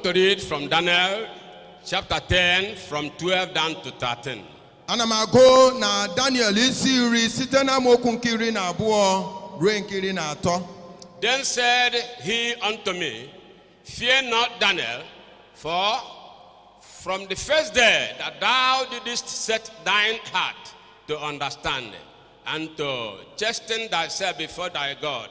to read from Daniel chapter 10 from 12 down to 13. ana m agụ na daniel isi iri site na amaokwu nke iri na abụọ ruo nke iri na atọ Then said he unto me, Fear not, Daniel, for from the first day that thou didst set thine heart to understand and to chasten thyself before thy God,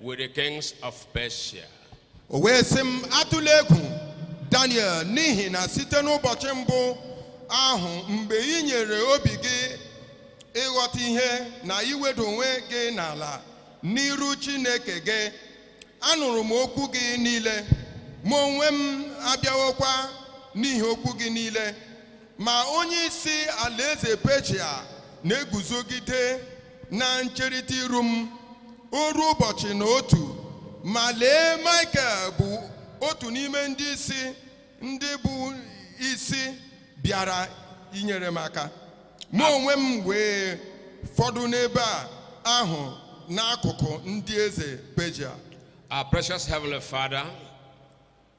With the kings of Persia. O wee sị m atụla egwu Daniel n'ihi na site n'ụbọchị mbụ ahụ mgbe i nyere obi gị ịghọta ihe na iwedo onwe gị n'ala n'iru Chineke gị anụrụ m okwu gị niile mụ onwe m abịawokwa n'ihi okwu gị niile Ma onye isi alaeze Peshia na-eguzogide na ncherịta iru m oru ụbọchị na otu ma lee Michael bụ otu n'ime ndị isi ndị bụ isi bịara inyere m aka mụ onwe m wee fọdụ n'ebe ahụ n'akụkụ ndị eze Peshia Our precious Heavenly Father,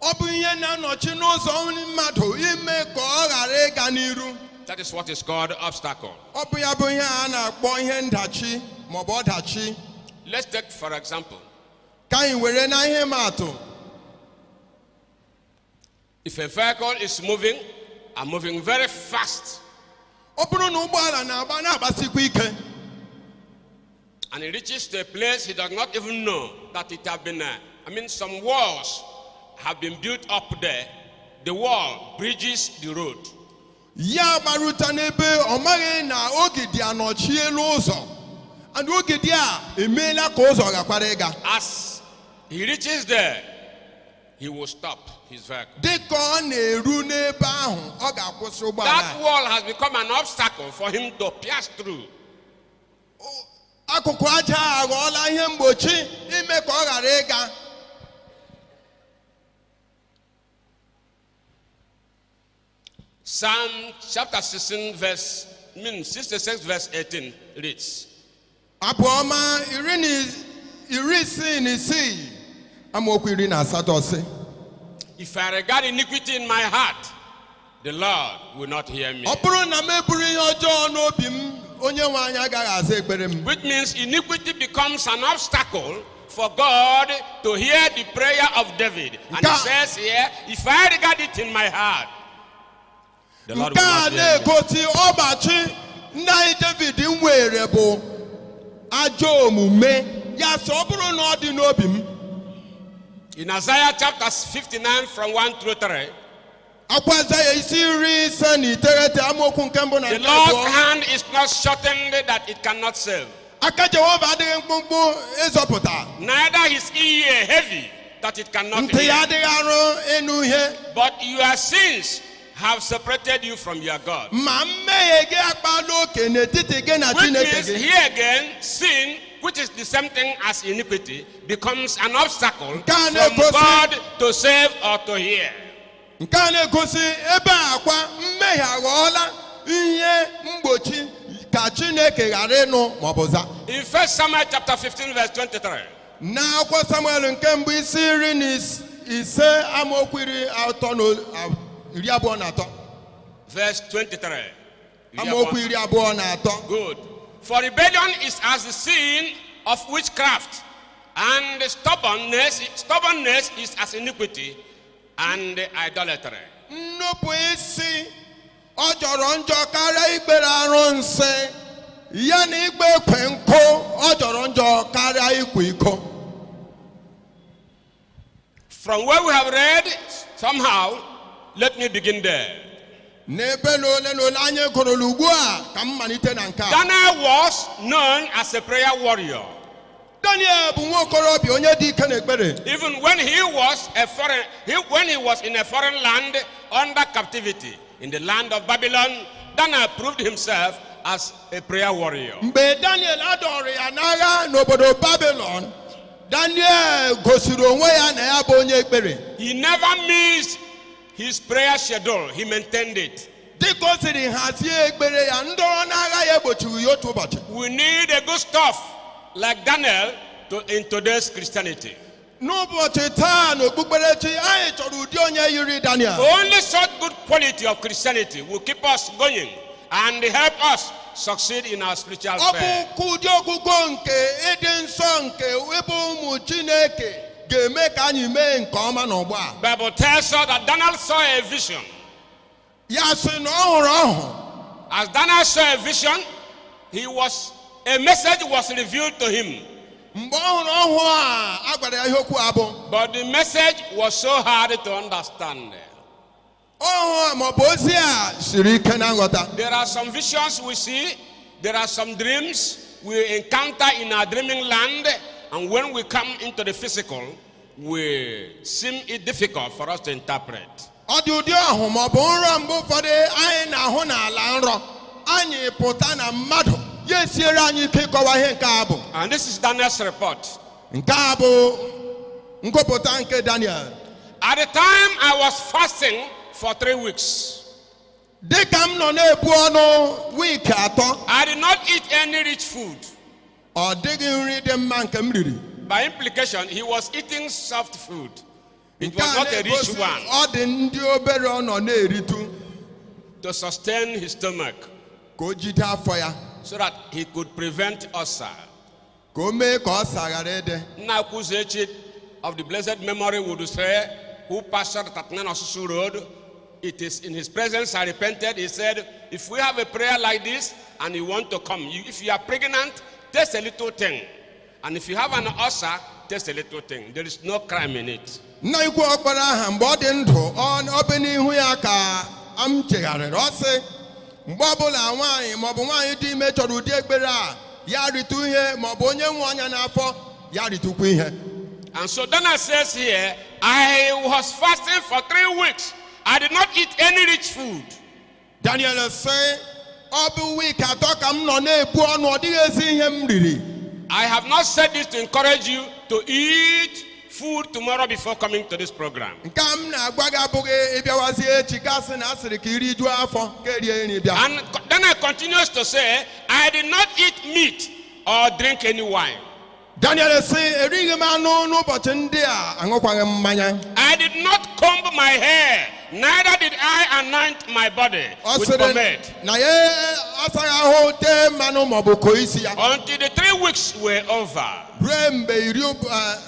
Ọ bụ ihe na-anọchi n'ụzọ mmadụ ime ka ọ ghara ịga n'iru. That is what is called obstacle. Ọ bụ ya bụ ihe a na-akpọ ihe ndachi maọbụ ọdachi. Let's take for example. Ka anyị were na ihe ịma atụ. If a vehicle is moving and moving very fast. Ọ bụrụ na ụgbọala na-agba na-agbasikwa ike. And he reaches to a place he does not even know that it have been, uh, I mean, some walls have been built up there. The wall bridges the road. ya agbaruta n'ebe ọ maghị na ogidi anọchiela ụzọ and ogidi a emeela ka ụzọ ghakwara ịga As he reaches there, he will stop his vehicle. dịka ọ na-eru n'ebe ahụ ọ ga-akwụsị ụgbọala That wall has become an obstacle for him to pass through. akụkụ aja a aghọọla ihe mgbochi ime ka ọ ghara ịga Psalm chapter 16, verse I mean 66, verse 18 reads. abụ ọma iri na is- iri isii na isii amaokwu iri na asatọ sị If I regard iniquity in my heart, The Lord will not hear me. ọ bụrụ na m eburu ihe ọjọọ n'obi m onye nwe anyị agaghị aza ekpere m Which means iniquity becomes an obstacle for God to hear the prayer of David. And he Nka- says here, if I regard it in my heart, the Lord nke will a not hear me. na-egosi ọgbachi nna anyị david nwere bụ ajọ omume ya sị ọ bụrụ na ọ dị n'obi m In Isaiah chapter 59 from 1 through 3, Akwụkwọ Aịzaya isi iri ise na iteghete amaokwu nke mbụ na The nke Lord's abụọ. hand is not shortened that it cannot save, Aka Jehova adịghị mkpụmkpụ ịzọpụta. neither his ear heavy that it cannot Ntị ya hear. adịghị arụ ịnụ ihe. But your sins have separated you from your God. Ma mmehie gị akpala oke n'etiti gị na Which Chineke means, gị. here again, sin, which is the same thing as iniquity, becomes an obstacle Nke a from na-egosi- God to save or to hear. nke a na-egosi ebe a kwa mmehie aghọọla ihe mgbochi ka chineke ghara ịnụ maọbụ za In 1 Samuel chapter 15, verse 23, n'akwụkwọ samuel nke mbụ isi iri na is- ise amaokwu iri atọ na o- a- iri abụọ na atọ verse 23. You hear amaokwu one? iri abụọ na atọ Good. For rebellion is as the sin of witchcraft, and stubbornness, stubbornness is as iniquity, and idolatry. Nnupụ isi ọ jọrọ njọ karịa ikpere arụsị ya na ịkpọ ekwe nkụ ọ jọrọ njọ karịa ịkwa iko. From where we have read, somehow, let me begin there. N'ebe na ole na ole anyị gụrụla ugbu a ka m malite na nke a. Daniel was known as a prayer warrior. Daniel bụ nwa okorobịa onye dị ike n'ekpere. Even when he was a foreign, he, when he was in a foreign land under captivity in the land of Babylon, Daniel proved himself as a prayer warrior. Mgbe Daniel a dọọrọ ya n'agha n'obodo Babylon, Daniel gosiri onwe ya na ya bụ onye ekpere. He never missed his prayer schedule. He maintained it. dịka o siri hazie ekpere ya ndọrọ n'agha ya egbochighị ya otu ụbọchị We need a good stuff like Daniel to, in today's Christianity. n'ụbọchị taa n'okpukperechi anyị chọrọ ụdị onye yiri daniel Only such good quality of Christianity will keep us going and help us succeed in our spiritual ọ bụ faith. ka ụdị ogogo nke ịdị nsọ nke ịbụ ụmụ chineke ga-eme ka anyị mee nke ọma n'ọgbọ a Bible tells us that Daniel saw a vision. ya sị na ọ hụrụ ọhụ As Daniel saw a vision, he was a message was revealed to him, mgbe ọ hụrụ ọhụ a a gwara ya ihe okwu a bụ but the message was so hard to understand. ọhụ a maọbụ ozi a siri ike na nghọta There are some visions we see, there are some dreams we encounter in our dreaming land, and when we come into the physical, we seem it difficult for us to interpret. ọ dị ụdị ọhụ ma ọ bụ nrọ mgbe ụfọdụ anyị na-ahụ n'ala nrọ anyị pụta na mmadụ ya esiere anyị ike ịkọwa ihe nke a bụ And this is Daniel's report. nke a bụ ngụpụta nke daniel At the time I was fasting for three weeks, dị ka m nọ na-ebu ọnụ wiiki atọ I did not eat any rich food. ọ dịghị nri dị mma nke m riri By implication, he was eating soft food. It Nke was a not a rich na-egosi one. ọ dị ndị obere ọ nọ na-eritu to sustain his stomach ka o jide afọ ya so that he could prevent ulcer. ka o mee ka ọsa ghara ịdị Nakuzechi of the blessed memory would say, who pastored 39 Osusu Road, it is in his presence I repented. He said, if we have a prayer like this and you want to come, you, if you are pregnant, taste a little thing. And if you have an ulcer, taste a little thing. There is no crime in it. nna anyị ukwu ọ kpara aha mgbe ọ dị ndụ ọ- ọ bụ n'ihu ya ka m chegharịrị ọ sị mgbe ọbụla nwaanyị maọbụ nwaanyị dị ime chọrọ ụdị ekpere a ya ritụ ihe maọbụ onye nwe ọnya n'afọ ya ritụkwa ihe And so Daniel says here, I was fasting for three weeks. I did not eat any rich food. Daniel sị ọ bụ wik atọ ka m nọ na-ebu ọnụ ọ dịghị ezi ihe m riri I have not said this to encourage you to eat food tomorrow before coming to this program. nke a m na-agwa gị abụghị ị bịawazi echi gị asị na a sịrị ka i rijuo afọ ka e rie nri bịa And co- Daniel continues to say, I did not eat meat or drink any wine. Daniel sị erighị m anụ n'ụbọchị ndị a aṅụkwaghị m mmanya I did not comb my hair, neither did I anoint my body ọ with sịrị pomade. na ya asaghị ahụ tee mmanụ maọbụ koo isi ya Until the three weeks were over. ruo mgbe iri ụb- ah,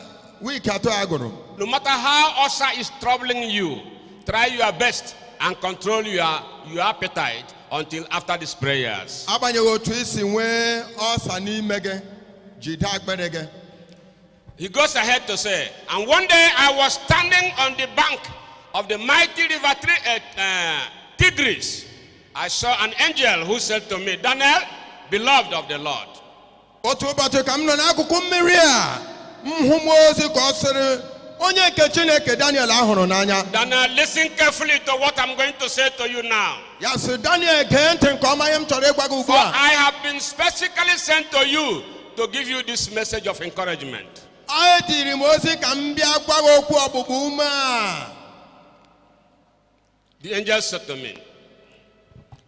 wiiki atọ a gwụrụ No matter how ulcer is troubling you, try your best and control your, your appetite until after these prayers. agbanyeghị otu i si nwee ọsa n'ime gị jide akpịrị gị He goes ahead to say, And one day I was standing on the bank of the mighty river Tri- uh, uh, Tigris. I saw an angel who said to me, Daniel, beloved of the Lord, otu ụbọchị ka m nọ n'akụkụ mmiri a m hụ mmụọ ozi ka ọ sịrị onye nke chineke daniel a hụrụ n'anya Daniel, listen carefully to what I'm going to say to you now. Ya sị Daniel gee ntị nke ọma ihe m chọrọ ịgwa gị ugbu a. For I have been specifically sent to you to give you this message of encouragement. E zitere m ozi ka m bịa gwa gị okwu ọgbụgba ume a. The angel said to me,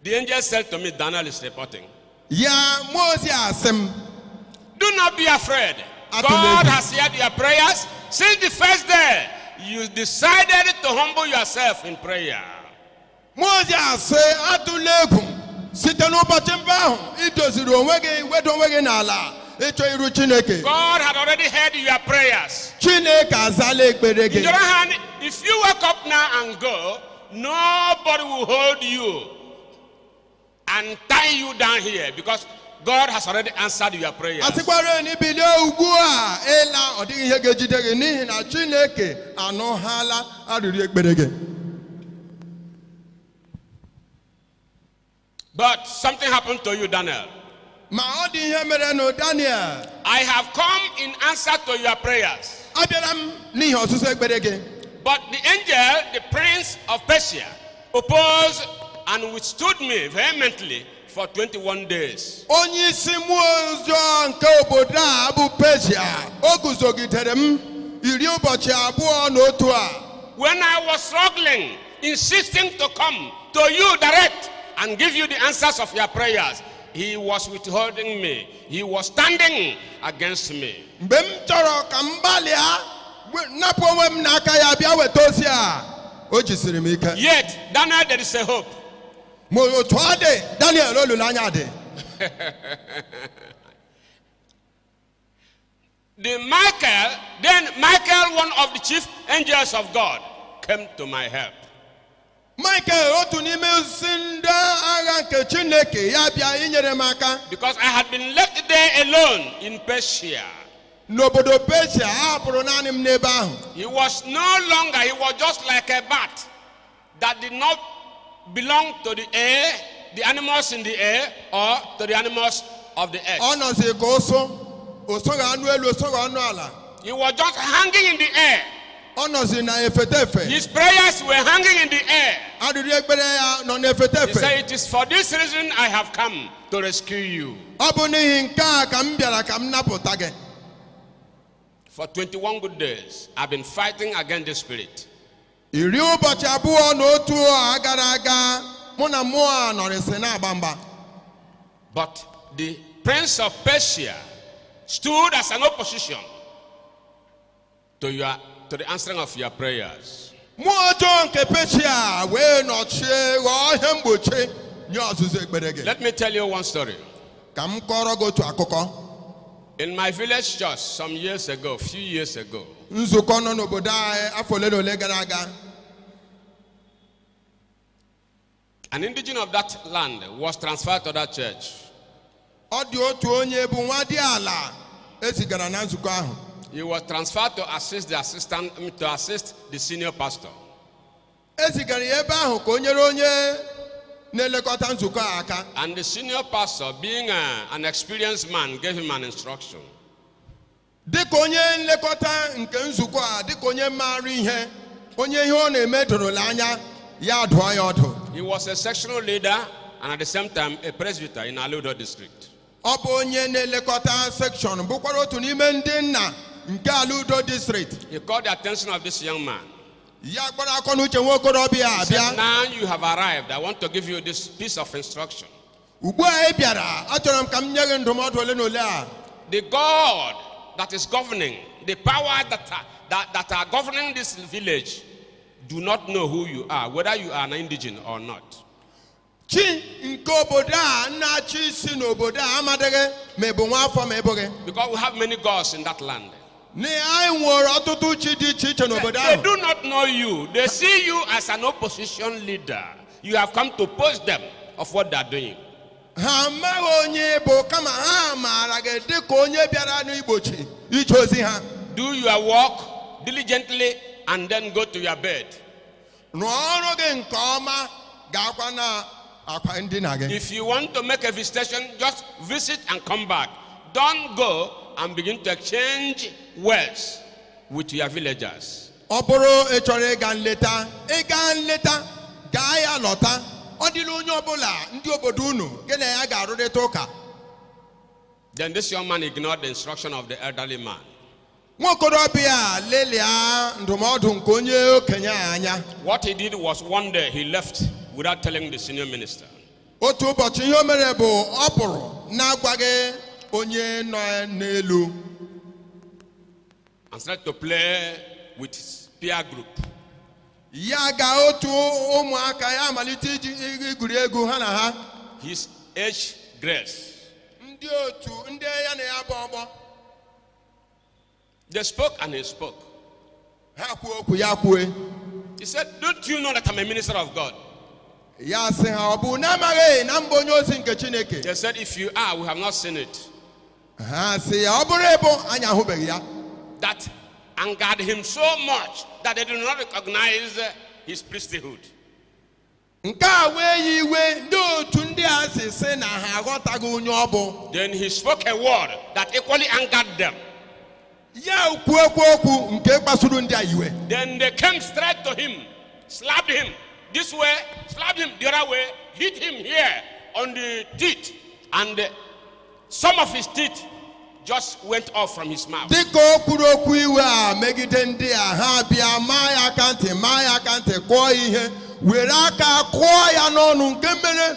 The angel said to me, Daniel is reporting. Ya mmụọ ozi a sị m. Do not be afraid. Atụla egwu. God has heard your prayers since the first day you decided to humble yourself in prayer. Mmụọ ozi a sị atụla egwu site n'ụbọchị mbụ ahụ i doziri onwe gị wedo onwe gị n'ala ịchọ iru Chineke. God had already heard your prayers. Chineke azala ekpere gị. On the other hand, if you wake up now and go, nobody will hold you. and tie you down here because God has already answered your prayer. a sịkwara na i bilie ugbu a ịla ọ dịghị ihe ga-ejide gị n'ihi na chineke anụhala arịrịọ ekpere gị But something happened to you, Daniel. Ma ọ dị ihe merenụ Daniel. I have come in answer to your prayers. Abịara m n'ihi ọsịsa ekpere gị. But the angel, the prince of Persia, opposed and withstood me vehemently for 21 days. Onye isi mmụọ ọjọọ nke obodo a bụ Persia, o guzogidere m iri ụbọchị abụọ na otu a. When I was struggling, insisting to come to you direct and give you the answers of your prayers, He was withholding me. He was standing against me. mgbe m chọrọ ka m gbalịa gbe- napụ onwe m n'aka ya bịa weta ozi a o jisiri m ike Yet, Daniel, there is a hope. ma otu ọ dị daniel olileanya dị The Michael, then Michael, one of the chief angels of God, came to my help. Michael otu n'ime isi ndị agha nke Chineke ya bịa inyere m aka Because I had been left there alone in Persia. n'obodo Persia a hapụrụ naanị m n'ebe ahụ He was no longer, he was just like a bat. that did not belong to the air, the animals in the air, or to the animals of the earth. ọ nọzi ka ụsụ o soghị anụ elu o soghị anụ ala He was just hanging in the air. ọ nọzi na efete efe His prayers were hanging in the air. arịrị ekpere ya nọ na efete efe He said, It is for this reason I have come to rescue you. ọ bụ n'ihi nke a ka m bịara ka m napụta gị For 21 good days, I've been fighting against the spirit. iri ụbọchị abụọ na otu a gara aga mụ na mmụọ a nọrịsị na-agba mgba But the prince of Persia stood as an opposition to, your, to the answering of your prayers. mmụọ ọjọọ nke peshia wee nọchie ghọọ ihe mgbochi nye ọzụzụ ekpere gị Let me tell you one story. ka m kọrọ gị otu akụkọ In my village church some years ago, few years ago, nzukọ nọ n'obodo anyị afọ ole na ole gara aga an indigene of that land was transferred to that church. ọ dị otu onye bụ nwadiala e zigara na nzukọ ahụ He was transferred to assist the assistant, um, to assist the senior pastor. e zigara ya ebe ahụ ka o nyere onye na-elekọta nzukọ a aka And the senior pastor, being uh, an experienced man, gave him an instruction. dịka onye nlekọta nke nzukọ a dịka onye maara ihe onye ihe ọ na-eme dorola anya ya adụọ ya ọdụ He was a sectional leader and at the same time a presbyter in Aludo district. ọ bụ onye na-elekọta section bụkwara otu n'ime ndị nna nke ala udo district He called the attention of this young man. ya akpọrọ akọ na uche nwa okorobịa a bịa He said, Now you have arrived. I want to give you this piece of instruction. ugbu a ị bịara achọrọ m ka m nye gị ndụmọdụ ole na ole a The God that is governing, the powers that are, that, that are governing this village, do not know who you are, whether you are an indigene or not. chi nke obodo a na-achị isi n'obodo a amadịghị ma ị bụ nwa afọ ma ị bụghị Because we have many gods in that land. na anyị nwere ọtụtụ chi dị iche iche n'obodo ahụ They do not know you. They see you as an opposition leader. You have come to oppose them of what they are doing. ha amaghị onye ị bụ kama ha maara gị dị ka onye bịara n'igbochi ije ozi ha Do your work diligently and then go to your bed. rụọ ọrụ gị nke ọma gaakwa n'akwa ndina gị If you want to make a visitation, just visit and come back. Don't go and begin to exchange words with your villagers. ọ bụrụ ị chọrọ ịga nleta ịga nleta gaa ya lọta ọ dịla onye ọbụla ndị obodo unu gị na ya ga-arụrịta ụka Then this young man ignored the instruction of the elderly man. nwa okorobịa a lelịa ndụmọdụ nke onye okenye a anya What he did was one day he left without telling the senior minister. otu ụbọchị ihe o mere bụ ọ pụrụ na-agwaghị onye nọ n'elu and started to play with his peer group. Ya ga otu ụmụaka ya amalite igwuri egwu ha na ha. His age grades. Ndị otu ndị ya na ya bụ ọgbọ. They spoke and he spoke. Ha kwuo okwu ya kwue. He said, Don't you know that I'm a minister of God? Ya sị ha ọ bụ na amaghị na m bụ onye ozi nke Chineke. They said, If you are, we have not seen it. ha sị ya ọ bụrụ ị bụ anyị ahụbeghị ya that angered him so much that they did not recognize uh, his priesthood. nke a wee ya iwe n'ụdị otu ndị a si sị na ha aghọtaghị onye ọ bụ Then he spoke a word that equally angered them. Ya kwuokwa okwu nke kpasuru ndị a iwe. Then they came straight to him, slapped him this way, slapped him the other way, hit him here on the teeth, and uh, some of his teeth just went off from his mouth. Dịka o kwuru okwu iwe a megide ndị a ha bịa maa ya aka ntị maa ya aka ntị kụọ ya ihe were aka kụọ ya n'ọnụ nke mere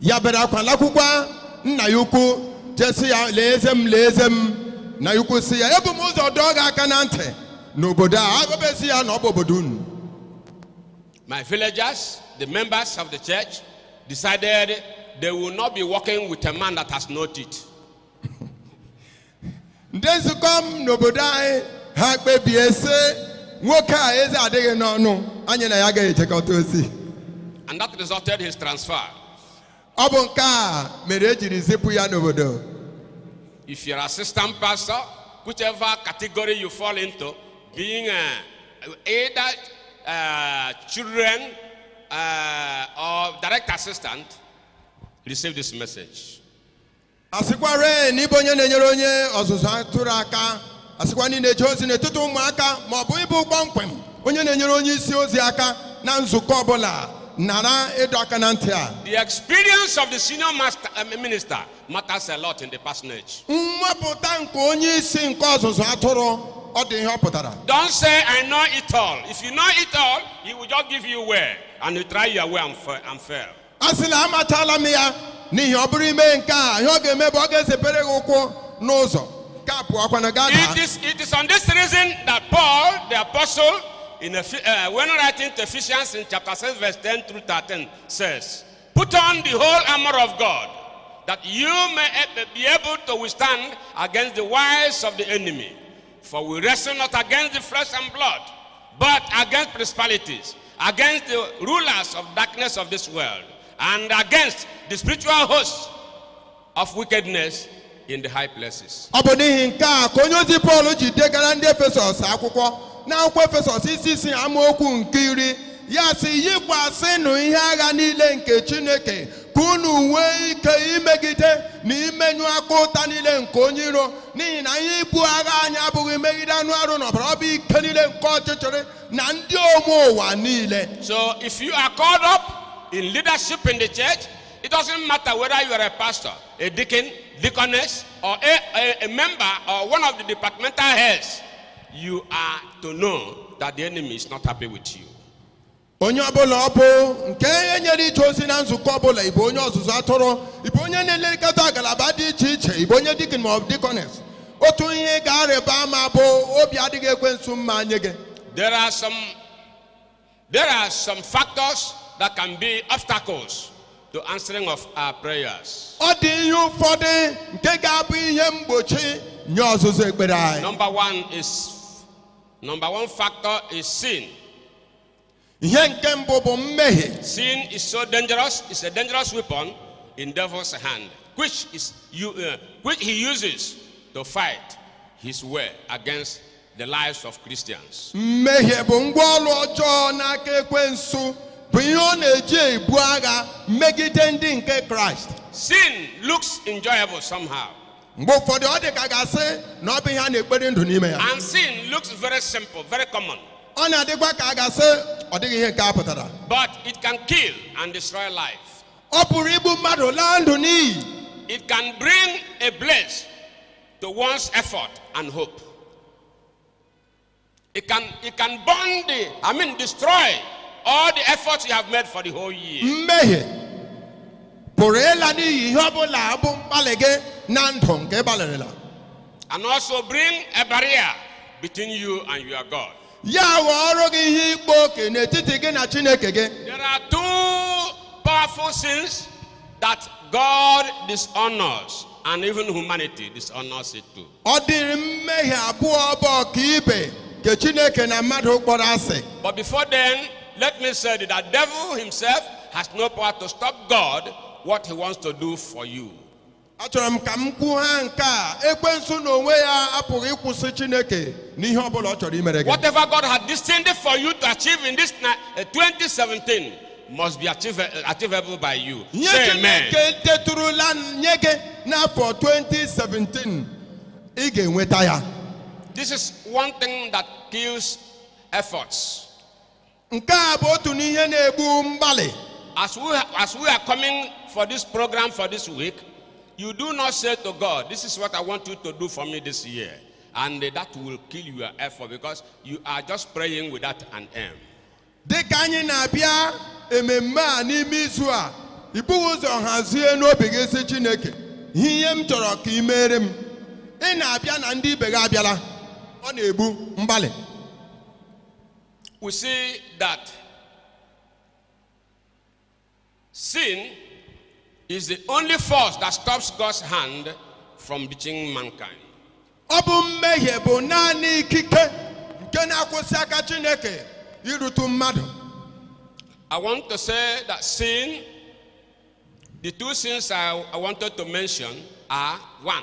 ya bere akwa lakwukwa nna ya ukwu je sị ya lee eze m lee eze m nna ya ukwu sị ya ebu m ụzọ dọọ gị aka na ntị n'obodo a agọbezi ya na ọ bụ obodo unu My villagers, the members of the church, decided they will not be working with a man that has no teeth. ndị nzukọ m n'obodo anyị ha kpebie sị nwoke a eze adịghị n'ọnụ anyị na ya agaghị ejekọta ozi And that resulted his transfer. ọ bụ nke a mere e jiri zipụ ya n'obodo If you're assistant pastor, whichever category you fall into, being uh, either uh, children uh, or direct assistant, receive this message. a sịkwarị na ị bụ onye na-enyere onye ọzụzụ atụrụ aka a sịkwa na ị na-eje ozi n'etiti ụmụaka ma ọ bụ ị bụ kpọmkwem onye na-enyere onye isi ozi aka na nzukọ ọbụla nara ịdọ aka na ntị a The experience of the senior master, uh, minister matters a lot in the parsonage. nnwapụta nke onye isi nke ọzụzụ atụrụ ọ dị ihe ọ pụtara Don't say, I know it all. If you know it all, he will just give you way and you try your way and, fa- and fail. asịla amachaala m ya n'ihi ọ bụrụ i mee nke a ihe ọ ga-eme bụ ọ ga-ezebere gị ụkwụ n'ụzọ ka pụọkwana gaa daa It is, it is on this reason that Paul, the apostle, in Eph- uh, when writing to Ephesians in chapter 6, verse 10 through 13, says, Put on the whole armor of God, that you may ab- be able to withstand against the wiles of the enemy. For we wrestle not against the flesh and blood, but against principalities, against the rulers of darkness of this world, and against the spiritual hosts of wickedness in the high places. ọ bụ n'ihi nke a ka onye ozi pọl ji degara ndị efesọs akwụkwọ n'akwụkwọ efesọs isi isii amaokwu nke iri ya sị yikwasịnụ ihe agha niile nke chineke ka unu nwee ike imegide na imenyụ akụ ụta niile nke onye iro n'ihi na ihe ibu agha anyị abụghị imegide anụ arụ na ọbara ọ bụ ike niile nke ọchịchịrị na ndị onwe ụwa niile So if you are called up in leadership in the church, it doesn't matter whether you are a pastor, a deacon, deaconess, or a, a, a member or one of the departmental heads, you are to know that the enemy is not happy with you. onye ọbụla ọ bụ nke e nyere ije ozi na nzukọ ọbụla ị bụ onye ọzụzụ atụrụ ị bụ onye na-elekọta agalaba dị iche iche ị bụ onye dikin ma ọ bụ dikones otu ihe ị ga-arịba ama bụ obi adịghị ekwensu mma nye gị There are some there are some factors that can be obstacles to answering of our prayers. ọ dị ihe ụfọdụ nke ga-abụ ihe mgbochi nye ọzịza ekpere anyị Number one is number one factor is sin. ihe nke mbụ bụ mmehie Sin is so dangerous, it's a dangerous weapon in devil's hand, which is you, uh, which he uses to fight his way against the lives of Christians. mmehie bụ ngwa ọrụ ọjọọ n'aka ekwensu bụ ihe ọ na-eji ebu agha megide ndị nke kraịst Sin looks enjoyable somehow. mgbe ụfọdụ ọ dị ka a ga-asị na ọ bụ ihe a na-ekpori ndụ n'ime ya And sin looks very simple, very common, ọ na-adịkwa ka a ga-asị ọ dịghị ihe nke a pụtara but it can kill and destroy life. ọ pụrụ igbu mmadụ laa ndụ n'iyi It can bring a blaze to one's effort and hope. It can, it can burn the, I mean, destroy all the efforts you have made for the whole year. mmehie pụrụ ịla n'iyi ihe ọ bụla bụ mgbalị gị na ndụ nke ị gbalịrịla And also bring a barrier between you and your God. ya ghọọrọ gị ihe ịkpa oke n'etiti gị na chineke gị There are two powerful sins that God dishonors, and even humanity dishonors it too. ọ dịrị mmehie abụọ bụ ọkaibe nke chineke na mmadụ kpọrọ asị But before then, let me say that the devil himself has no power to stop God what he wants to do for you. achọrọ m ka m kwuo ha nke a ekwensu na onwe ya apụghị ịkwụsị chineke n'ihe ọbụla ọ chọrọ imere gị Whatever God had destined for you to achieve in this ni- uh, 2017, must be achieve, achievable by you. ihe Say amen. chineke deturula nye gị n'afọ 2017 ị ga-enweta ya This is one thing that kills efforts. nke a bụ otu n'ihe na-egbu mgbalị As we, as we are coming for this program for this week, you do not say to God, This is what I want you to do for me this year. And that will kill your effort because you are just praying without an aim. dị ka anyị na-abịa ememme a n'ime izu a i bughị ụzọ hazie n'obi gị sị chineke ihe ihe m chọrọ ka i meere m ị na-abịa na ndị ibe gị abịala ọ na-egbu mgbalị we see that Sin is the only force that stops God's hand from reaching mankind. Ọ bụ mmehie bụ naanị ikike nke na-akwụsị aka Chineke irutu mmadụ. I want to say that sin, the two sins I, I wanted to mention are one,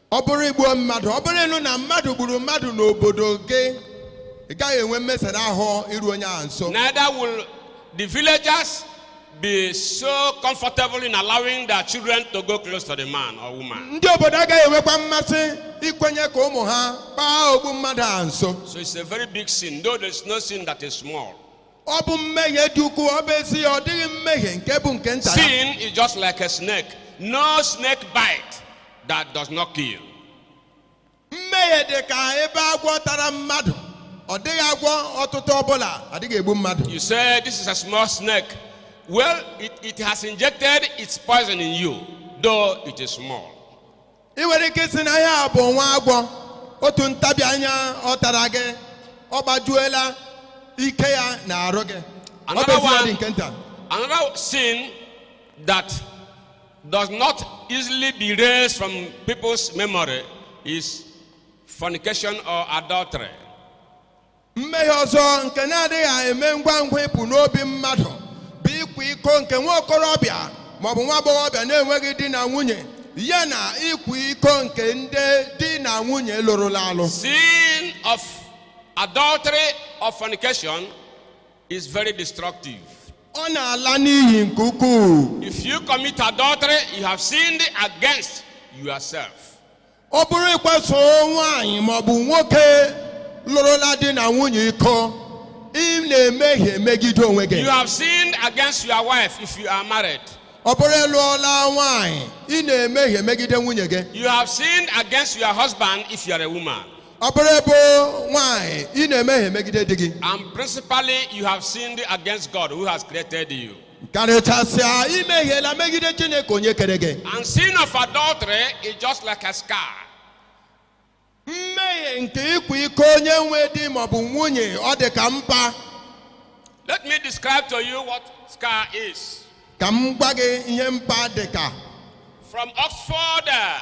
ọ bụrụ i gbuo mmadụ ọ bụrụ ị nụ na mmadụ gburu mmadụ n'obodo gị ị gaghị enwe mmesara ahụ iru onye ahụ nso Neither will the villagers be so comfortable in allowing their children to go close to the man or woman. ndị obodo agaghị enwekwa mmasị ikwenye ka ụmụ ha kpaa ogbu mmadụ a nso So it's a very big sin, though there's no sin that is small. ọ bụ mmehie dị ukwuu ọ bụ ezie ọ dịghị mmehie nke bụ nke nta Sin is just like a snake. No snake bite that does not kill. mmehie dị ka ebe agwọ tara mmadụ ọ dịghị agwọ ọtụtụ ọbụla adịghị egbu mmadụ You say this is a small snake. Well, it, it has injected its poison in you, though it is small. ị nwere ike ịsị na ihe a bụ nwa agwọ otu ntabi anya ọ tara gị ọ gbajuola ike ya n'arụ gị ọ bụ ezie ọ dị nke nta another sin that does not easily be erased from people's memory is fornication or adultery. mmehie ọzọ nke na-adịghị eme ngwa ngwa ịpụ n'obi mmadụ bụ ịkwa iko nke nwa okorobịa maọbụ nwa agbọghọbịa na-enweghị di na nwunye ya na ịkwa iko nke ndị di na nwunye lụrụla alụ Sin of adultery or fornication is very destructive. ọ na-ala n'iyi nke ukwuu If you commit adultery, you have sinned against yourself. ọ bụrụ ị kwaso nwaanyị maọbụ nwoke lụrụla di na nwunye iko ị na-emehie megide onwe gị You have sinned against your wife if you are married. ọ bụrụ ị lụọla nwaanyị ị na-emehie megide nwunye gị You have sinned against your husband if you are a woman. ọ bụrụ ị bụ nwaanyị ị na-emehie megide di gị And principally, you have sinned against God who has created you. karịchasịa i mehiela megide chineke onye kere gị And sin of adultery is just like a scar. mmehie nke ịkwa iko onye nwe di maọbụ nwunye ọ dị ka mpa Let me describe to you what scar is. ka m gwa gị ihe mpa dị ka From Oxford uh,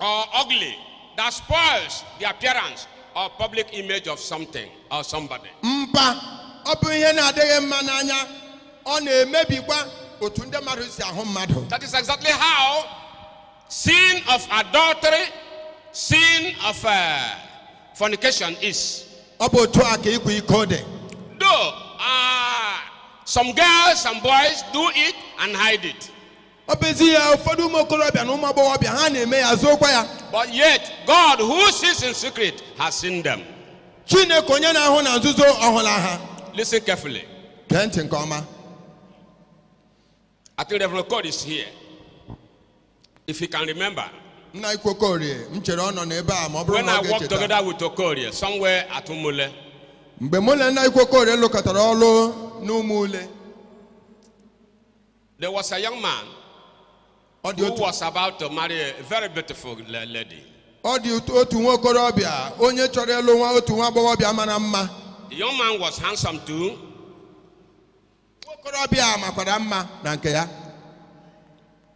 or ugly that spoils the appearance or public image of something or somebody. mpa ọ bụ ihe na-adịghị mma n'anya ọ na-emebikwa otu ndị mmadụ si ahụ mmadụ That is exactly how sin of adultery, sin of uh, fornication is. ọ bụ otu a ka ịkwa iko dị Though uh, some girls and boys do it and hide it. ọ bụ ezie ụfọdụ ụmụ okorobịa na ụmụ agbọghọbịa ha na-eme ya zookwa ya But yet, God who sees in secret has seen them. chineke onye na-ahụ na nzuzo ọ hụla ha Listen carefully. gee ntị nke ọma I think Reverend God is here. If you can remember, nna ukwu Okorie m chere ọ nọ n'ebe a ma ọ bụrụ when na I ọ worked ga-echeta together with Okorie somewhere at Umule, mgbe mụ na nna ukwu Okorie lụkọtara ọlụ n'Umule There was a young man ọ dị who otu was about to marry a very beautiful la- lady. ọ dị otu- otu nwa okorobịa onye chọrọ ịlụ nwa otu nwa agbọghọbịa mara mma The young man was handsome too. nwa okorobịa a makwara mma na nke ya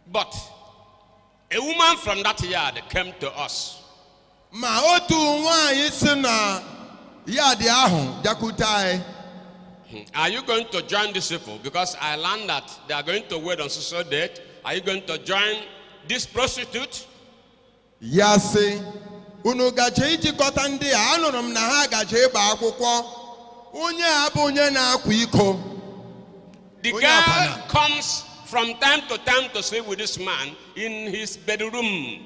But A woman from that yard came to us. Ma otu nwanyị si na yard ahụ bịakwute anyị. Hmm. Are you going to join these people? Because I learned that they are going to wed on so-so date. Are you going to join this prostitute? Ya sị, unu gaje ijikọta ndị a, anụrụ m na ha gaje ịgba akwụkwọ. Onye a bụ onye na-akwa iko. The Onye girl akwụna. comes from time to time to sleep with this man in his bedroom.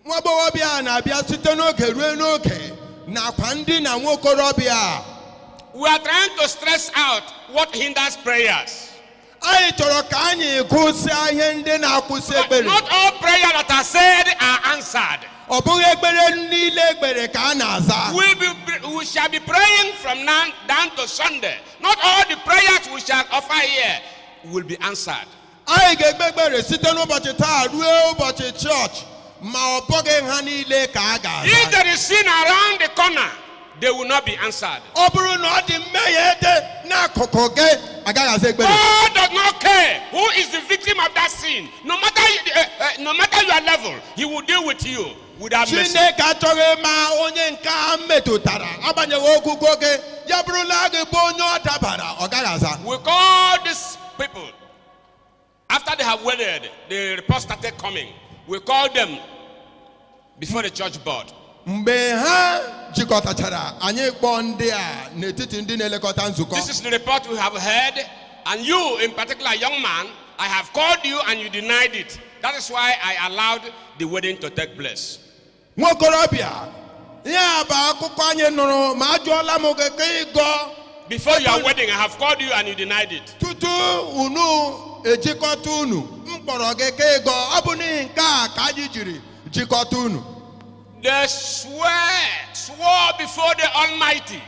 nwa agbọghọbịa a na-abịa site n'oge ruo n'oge n'akwa ndina nwa okorobịa a. We are trying to stress out what hinders prayers. anyị chọrọ ka anyị gụsịa ihe ndị na-akwụsị But ekpere not all prayers that are said are answered. ọ bụghị ekpere niile e kpere ka a na-aza We, be, we shall be praying from now down to Sunday. Not all the prayers we shall offer here will be answered. anyị ga-ekpe ekpere site n'ụbọchị taa ruo ụbọchị chọọchị ma ọ bụghị ha niile ka a ga-aza If there is sin around the corner, they will not be answered. ọ bụrụ na ọ dị mmehie dị n'akụkụ gị a gaghị aza ekpere God does not care who is the victim of that sin. No matter uh, uh, no matter your level, He will deal with you. without mercy. chineke achọghị ịma onye nke a metụtara agbanyeghị ogogo gị ya bụrụ na ọ gị bụ onye ọ dabara ọ gaghị aza We call these people, after they have wedded, the report started coming. We call them before the church board. mgbe ha jikọtachara anyị kpọọ ndị a n'etiti ndị na-elekọta nzukọ This is the report we have heard, and you, in particular, young man, I have called you and you denied it. That is why I allowed the wedding to take place. nwa okorobịa ihe a bụ akụkọ anyị nụrụ ma ajụọla m gị ka ị gọ Before your wedding, I have called you and you denied it. tutu unu ejikọta unu m kpọrọ gị ka ị gọ ọ bụ n'ihi nke a ka anyị jiri jikọta unu They swear, swore before the Almighty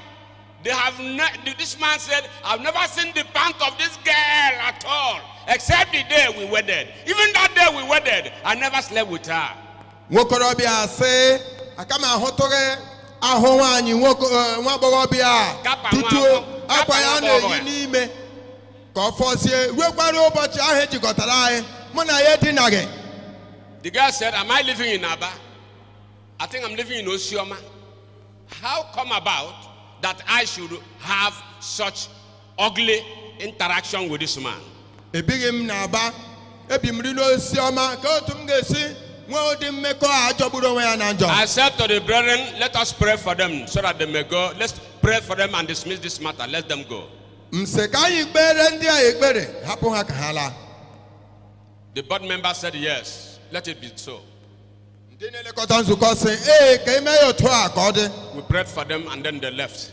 They have ne- this man said, I've never seen the pant of this girl at all, except the day we wedded. Even that day we wedded, I never slept with her. nwokorobịa sị aka m ahụtụghị ahụ nwaanyị nwa agbọghọbịa a tutu akwa ya na-eyi n'ime ka ọ fọzie ruekwara ụbọchị ahụ e jikọtara anyị mụ na ya edinaghị The girl said, Am I living in Aba? I think I'm living in Osisioma. How come about that I should have such ugly interaction with this man? ebighị m n'Aba ebi m rị n'Osisioma kee otu m ga-esi nwee ụdị mmekọ a jọgburu onwe ya na njọ I said to the brethren, let us pray for them so that they may go. Let's pray for them and dismiss this matter. Let them go. m sị ka anyị kpere ndị a ekpere hapụ ha ka ha laa The board member said, yes, let it be so. Ndị na-elekọta nzukọ sị, ee ka e mee ya otu a ka ọ dị. We prayed for them and then they left.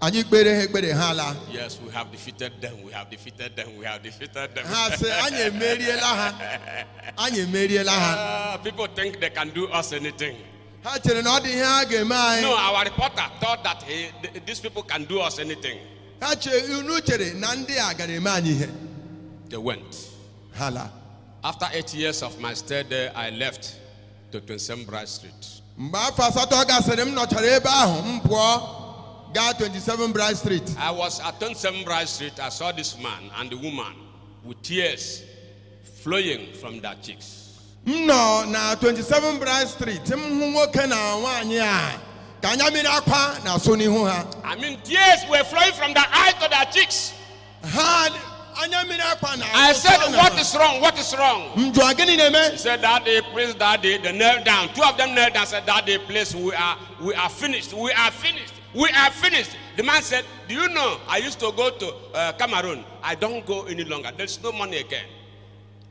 Anyị kpere ha ekpere ha alaa. Yes, we have defeated them. We have defeated them. We have defeated them. Ha sị, anyị emeriela ha. Anyị emeriela ha. Ah, people think they can do us anything. Ha chere na ọ dị ihe ha ga-eme anyị. No, our reporter thought that he, th- these people can do us anything. Ha chere unu chere na ndị a gara eme anyị ihe. They went. Ha laa. After eight years of my stay there, I left to 27 Bright Street. mgbe afọ asatọ gasịrị m nọchara ebe ahụ m pụọ gaa 27 Bright Street I was at 27 Bright Street. I saw this man and the woman with tears flowing from their cheeks. m nọ na 27 Bright Street m hụ nwoke na nwaanyị a ka anya mmiri akwa na-asọ n'ihu ha I mean, tears were flowing from their eyes to their cheeks. Ha anya mmiri akwa na. I said, What is wrong? What is wrong? M jụọ gịnị na-eme? He said, Daddy, please, daddy, they knelt down. Two of them knelt down. Said, Daddy, please, we are, we are finished. We are finished. We are finished. The man said, Do you know? I used to go to uh, Cameroon. I don't go any longer. There's no money again.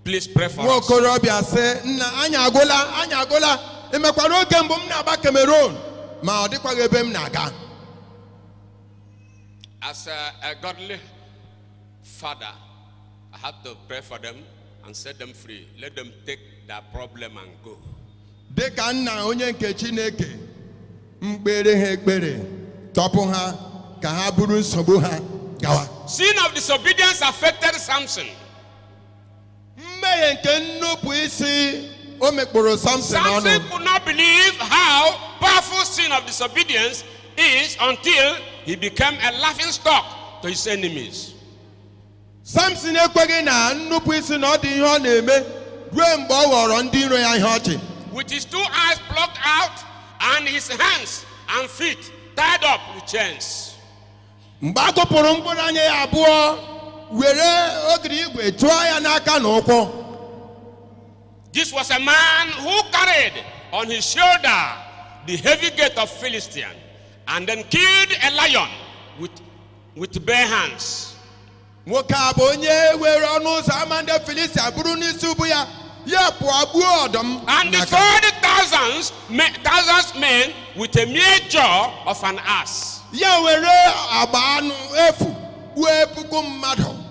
Please pray for us. Nwa okorobịa sị, nna anyị agwụla, anyị agwụla. Ị makwara oge mbụ m na-agba Cameroon, ma ọ dịkwaghị ebe m na-aga. As a, a godly father, I had to pray for them and set them free. Let them take their problem and go. dị ka nna onye nke chineke m kpeere ha ekpere tọpụ ha ka ha buru nsogbu ha gawa Sin of disobedience affected Samson. mmehie nke nnupụ isi o mekpọrọ samson ọnụ Samson could not believe how powerful sin of disobedience is until he became a laughing stock to his enemies. samson ekweghị na nnupụ isi na ọ dị ihe ọ na-eme ruo mgbe ọ ghọrọ ndị iro ya ihe ọchị With his two eyes plucked out and his hands and feet tied up with chains. mgbe a ghụpụrụ mkpụrụ anya ya abụọ were ogiri igwe tụọ ya n'aka na ụkwụ This was a man who carried on his shoulder the heavy gate of Philistine and then killed a lion with, with bare hands. nwoke a bụ onye were ọnụ ụzọ ama ndị filistia buru n'isi ubu ya ya pụọ gbuo ọdụm n'aka. And destroyed thousands, me- thousands men with a mere jaw of an ass. ya were agba anụ efu gbuo puku mmadụ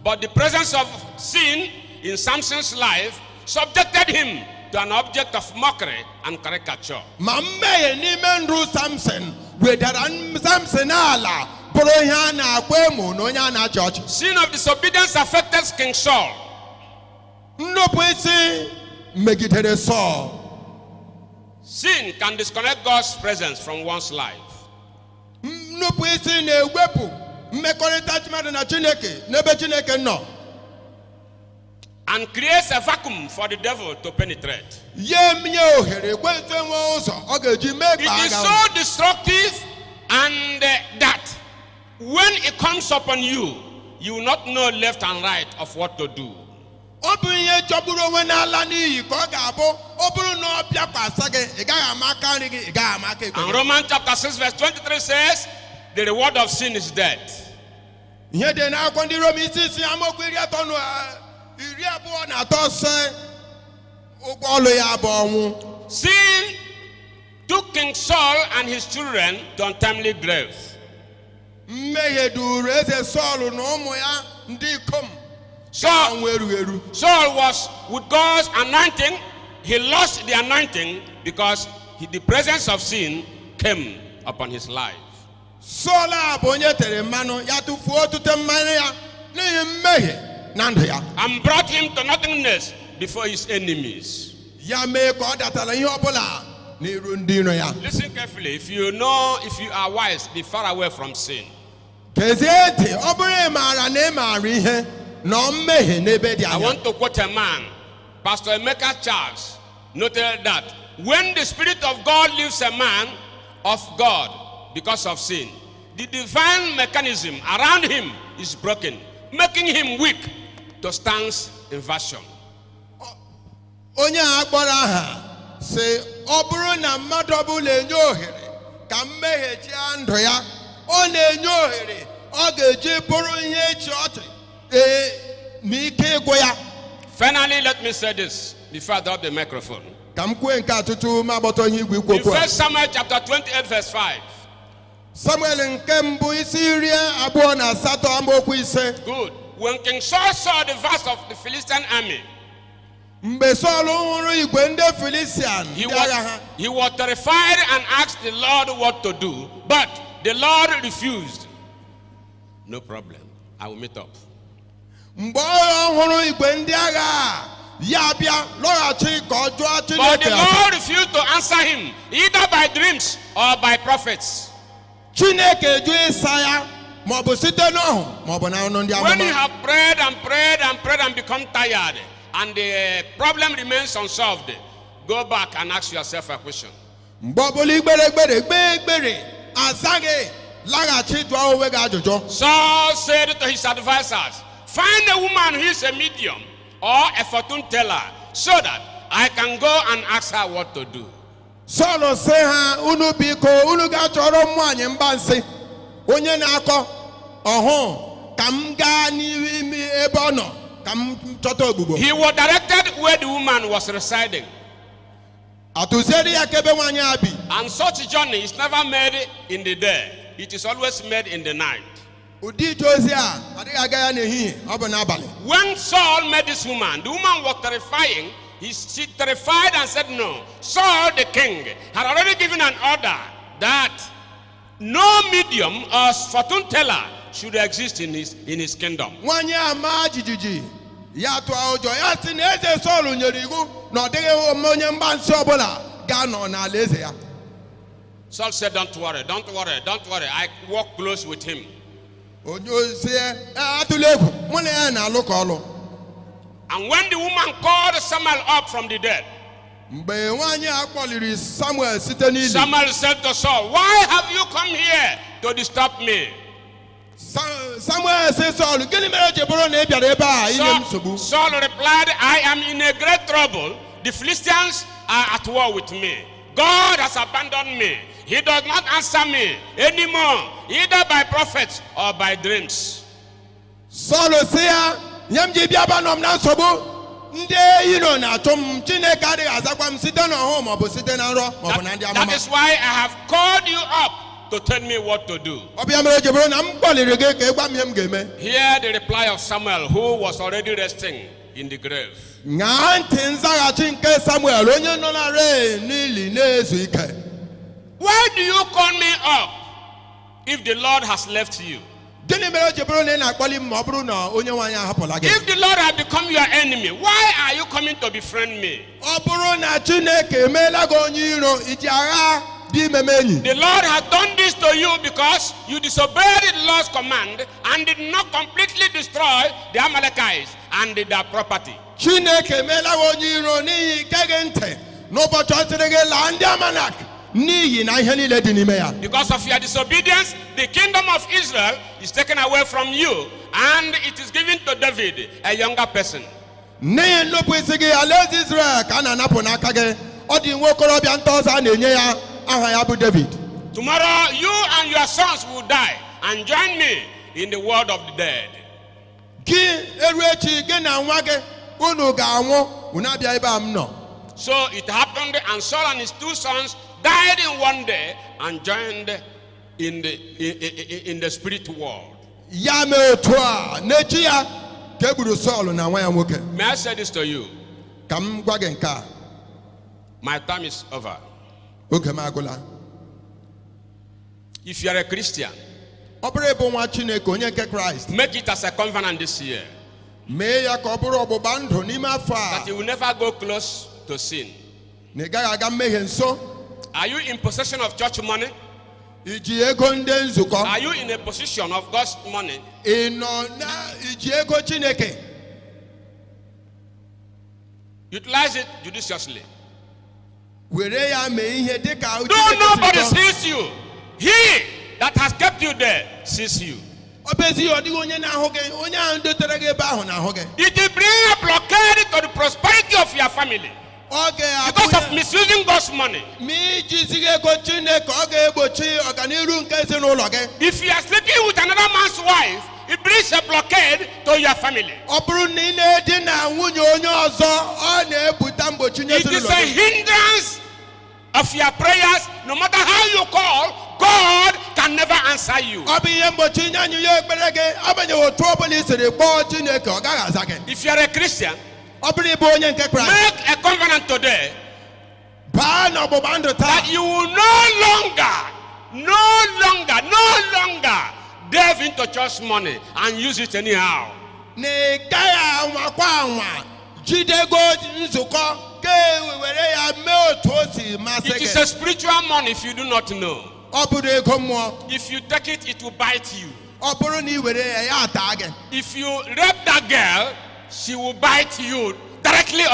But the presence of sin in Samson's life subjected him to an object of mockery and caricature. ma mmehie n'ime ndụ samson wedara n- samson ala bụrụ ihe a na-akwa emo na onye a na-achị ọchị Sin of disobedience affected King Saul. nnupụ isi megidere sọl Sin can disconnect God's presence from one's life. nnupụ isi na-ewepụ mmekọrịta mmadụ na chineke n'ebe chineke nọ and creates a vacuum for the devil to penetrate. ya emenye ohere ekwensu enwe ụzọ ọ ga-eji mee ka a gawa It is so destructive, and uh, that when it comes upon you, you will not know left and right of what to do. ọ bụ ihe jọgburu onwe na-ala n'iyi ka ọ ga-abụ ọ bụrụ na ọ bịakwasa gị ị gaghị ama aka nri gị ị gaghị ama aka ekpe gị And Romans chapter 6, verse 23 says, The reward of sin is death. ihe dị n'akwụkwọ ndị rom isi isii amaokwu iri atọ na iri abụọ na atọ sị ụgwọ ọlụ ya bụ ọnwụ Sin took King Saul and his children to untimely graves. mmehie duru eze sọl na ụmụ ya ndị ikom Saul, ọnwụ erughị eru Saul was with God's anointing. He lost the anointing because he- the presence of sin came upon his life. Sọl a bụ onye e tere mmanụ ya tụfuo otute mmanụ ya n'ihi mmehie na ndụ ya and brought him to nothingness before his enemies. ya mee ka ọ datara ihe ọbụla n'iru ndị iro ya Listen carefully. If you know, if you are wise, be far away from sin. gezie ntị ọ bụrụ ị maara na ị maara ihe nọ mmehie n'ebe dị anya I want to quote a man, Pastor Emeka Charles, noted that when the Spirit of God leaves a man of God because of sin, the divine mechanism around him is broken, making him weak to Satan's invasion. onye a kpọrọ aha sị ọ bụrụ na mmadụ ọbụla enye ohere ka mmehie chịa ndụ ya ọ na-enye ohere ọ ga-eji bụrụ ihe ịchị ọchị ee na ike ịgwụ ya Finally, let me say this. Before I drop the microphone. ka m kwue nke a tutu m agbọtọ ihe igwe ikwu okwu a In 1 Samuel chapter 28, verse 5. samuel nke mbụ isi iri abụọ na asatọ amaokwu ise Good. When King Saul saw the vast of the Philistine army, mgbe sọl hụrụ igwe ndị filistian ndị agha ha he was, he was terrified and asked the Lord what to do, but the Lord refused. No problem. I will meet up. mgbe ọ hụrụ igwe ndị agha a, ya abịa lọghachi ka ọ jụọ chineke ase. But the Lord refused to answer him, either by dreams or by prophets. chineke jụ ịsa ya maọbụ site n'ọhụ maọbụ na ọnụ ndị amụma When you have prayed and prayed and prayed and become tired, and the problem remains unsolved, go back and ask yourself a question. mgbe ọbụla i kpere ekpere kpee ekpere azaghị laghachi jụọ onwe gị ajụjụ Saul said to his advisers, Find a woman who is a medium or a fortune teller so that I can go and ask her what to do. sọl sị ha unu biko unu ga-achọrọ m nwaanyị mgbansị onye na-akọ ọhụụ ka m gaa n'ime ebe ọ nọ ka m chọta ogbugbo He was directed where the woman was residing. A tụziere ya aka ebe nwaanyị a bi. And such journey is never made in the day. It is always made in the night. Ụdị ije ozi a a dịghị aga ya n'ehihie, ọ bụ n'abalị. When Saul met this woman, the woman was terrifying. He, she terrified and said, No. Saul the king had already given an order that No medium or fortune teller should exist in his, in his kingdom. nwanyị a maa jijiji ya tụọ ụjọ ya sị na eze sọl nyere iwu na ọ dịghị onye mgbansi ọbụla ga-anọ n'alaeze ya Saul said, Don't worry, don't worry, don't worry. I work close with him. o wee sị ya atụla egwu mụ na ya na-alụkọ ọlụ And when the woman called Samuel up from the dead, mgbe nwaanyị a kpọliri samuel site n'ili Samuel said to Saul, Why have you come here to disturb me? Sa- samuel sị sọl gịnị mere o ji bụrụ na ị bịara ebe a inye m nsogbu Saul replied, I am in a great trouble. The Philistines are at war with me. God has abandoned me. He does not answer me anymore, either by prophets or by dreams. sọl sị ya ihe m ji bịa bụ anọ m na nsogbu ndị iro na-achụ m chineke adịghị azakwa m site n'ọhụụ maọbụ site na nrọ maọbụ na ndị amụma That is why I have called you up to tell me what to do. ọ bụ ya mere o ji bụrụ na m kpọliri gị ka ị gwa m ihe m ga-eme Hear the reply of Samuel, who was already resting in the grave. ṅaa ntị nzaghachi nke samuel onye nọlarị n'ili na-ezu ike Why do you call me up If the Lord has left you, gịnị mere o ji bụrụ na ị na-akpọli m ma ọ bụrụ na onye nwe anyị ahapụla gị if the Lord has become your enemy, why are you coming to befriend me? ọ bụrụ na chineke emeela gị onye iro i ji aghaa bịa ime m enyi The Lord has done this to you because you disobeyed the Lord's command and did not completely destroy the Amalekites and their property. chineke emeela gị onye iro n'ihi i geghị ntị n'ụbọchị ọ sịrị gị laa ndị amalek n'iyi na ihe niile dị n'ime ya Because of your disobedience, the kingdom of Israel is taken away from you and it is given to David, a younger person. n'ihi nnupụ isi gị alaeze israel ka a na-anapụ n'aka gị ọ dị nwa okorobịa nta ọzọ a na-enye ya aha ya bụ david Tomorrow, you and your sons will die and join me in the world of the dead. Gị eru echi gị na nwa gị unu ga-anwụ unu abịa ebe a m nọ. So it happened, and Saul and his two sons died in one day and joined in the, in, in- in the spirit world. Ya mee otu a n'echi ya ka e gburu Sọl na nwa ya nwoke. May I say this to you? Ka m gwa gị nke a My time is over. oge m agụla. If you are a Christian, ọ bụrụ ị bụ nwa chineke onye nke kraịst make it as a covenant this year mee ya ka ọ bụrụ ọgbụgba ndụ n'ime afọ a that you will never go close to sin. na ị gaghị aga mmehie nso Are you in possession of church money? i ji ego ndị nzukọ Are you in a position of God's money? ị nọ na iji ego chineke Utilize it judiciously. were ya mee ihe dị ka ahụ Though Chineke si nobody chọọ. sees you. He that has kept you there sees you. ọ bụ ezie ọ dịghị onye na-ahụ gị onye ahụ dotere gị ebe ahụ na-ahụ gị It will bring a blockade to the prosperity of your family ọ because of ga-abụ misusing God's money. ma i jizighị ego chineke ọ ga-egbochi ọganiru nke ezinụlọ gị If you are sleeping with another man's wife, It brings a blockade to your family. ọ bụrụ na ị na-edina nwunye onye ọzọ ọ na-ebute mgbochi nye It is ezinụlọ a gị. hindrance of your prayers. No matter how you call, God can never answer you. ọ bụ ihe mgbochi nye azịza ekpere gị agbanyeghị otu ọ bụla i siri kpọọ chineke ọ gaghị aza gị If you are a Christian, ọ bụrụ ị bụ onye nke kraịst make a covenant today baa n'ọgbụgba ndụ taa that you will no longer, no longer, no longer delve into church money and use it anyhow. na ị gaghị anwakwa anwa jide ego nzukọ ka e were ya mee otu o si masị It is gị a spiritual money if you do not know. ọ bụrụ ego mmụọ If you take it, it will bite you. ọ bụrụ na ị were ya ya ata gị If you rape that girl, she will bite you directly or